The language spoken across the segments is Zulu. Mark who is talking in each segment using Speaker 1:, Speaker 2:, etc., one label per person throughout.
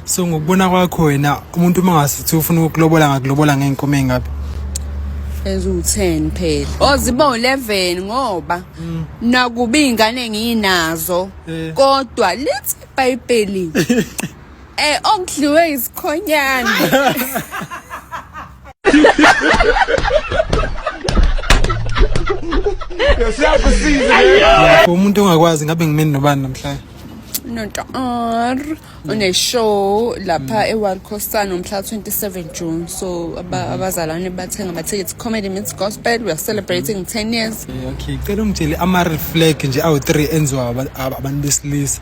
Speaker 1: so ngokubona kwakho wena umuntu uma ngasithi ufuna ukulobola ngakulobola ngey'nkomo ey'ngaphi eziwu-10
Speaker 2: phela oh ziba u-11 ngoba mm. nakuba iy'ngane ngiyinazo eh. kodwa lithi ibhayibheli eh okudliwe isikhonyana
Speaker 1: umuntu ongakwazi ngabe ngimeni nobani namhlanje notar
Speaker 2: uneshow lapha mm. eWorld Costan umhla 27 June so mm-hmm. abazalwane bathenga amathikithi comedy meets gospel we are celebrating 10 years okay cela ungitshele
Speaker 1: ama reflect nje awu 3 enziwa abantu besilisa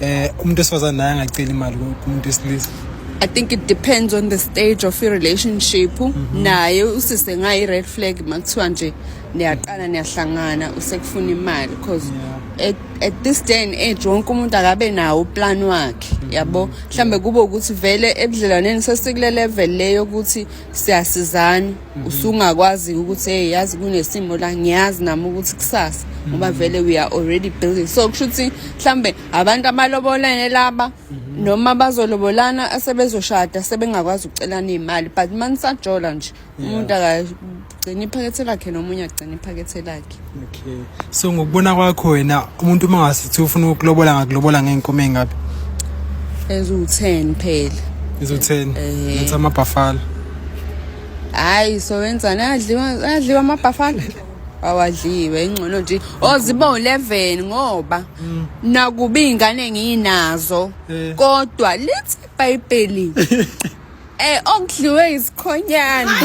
Speaker 1: eh umuntu esifazane naye angacela imali kumuntu esilisa I think it
Speaker 2: depends on the stage of your relationship mhm. naye usise ngayi red flag makuthiwa nje niyaqala niyahlangana usekufuna imali because at, at this day and age wonke umuntu akabe nawo plan wakhe mhm. yabo mhlambe kube ukuthi vele ebudlelwaneni sesikule level leyo ukuthi siyasizana mhm. usungakwazi ukuthi hey yazi kunesimo la ngiyazi nami ukuthi kusasa mhm. ngoba vele we are already building so kusho ukuthi mhlambe abantu abalobolene laba mhm. noma bazolobolana asebezoshada sebengakwazi ukucelana imali but manisajola nje umuntu akagcina iphakethe lakhe nomunye agcina iphakethe lakhe Okay. So
Speaker 1: ngokubona kwakho wena umuntu uma ngasithi ufuna ukulobola ngakulobola ngeenkomo engabe? Ezu10
Speaker 2: phela. Ezu10. Eh.
Speaker 1: Ngathi amabhafala.
Speaker 2: Hayi so wenzani adliwa adliwa amabhafala. awadliwe ingcono nje oziba u11 ngoba mm. nakuba ingane nginazo eh. kodwa lithi iBhayibheli eh okudliwe isikhonyana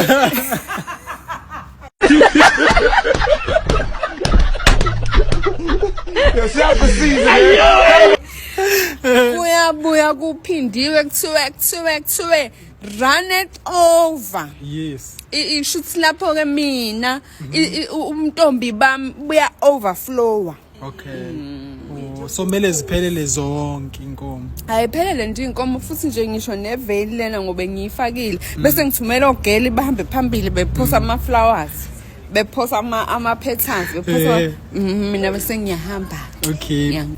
Speaker 2: kuyabuya kuphindiwe kuthiwe kuthiwe kuthiwe run it over yes
Speaker 1: ishuthi lapho
Speaker 2: ke mina umntombi bami buya overflower
Speaker 1: okay oh, so kumele ziphelele zonke inkomo ayiphelele nje inkomo
Speaker 2: futhi nje ngisho neveli lena ngoba ngiyifakile mm. bese ngithumela ogeli bahambe phambili bephosa mm. ama flowers bephosa ama ama patterns bephosa
Speaker 1: eh. mm,
Speaker 2: mina bese ngiyahamba okay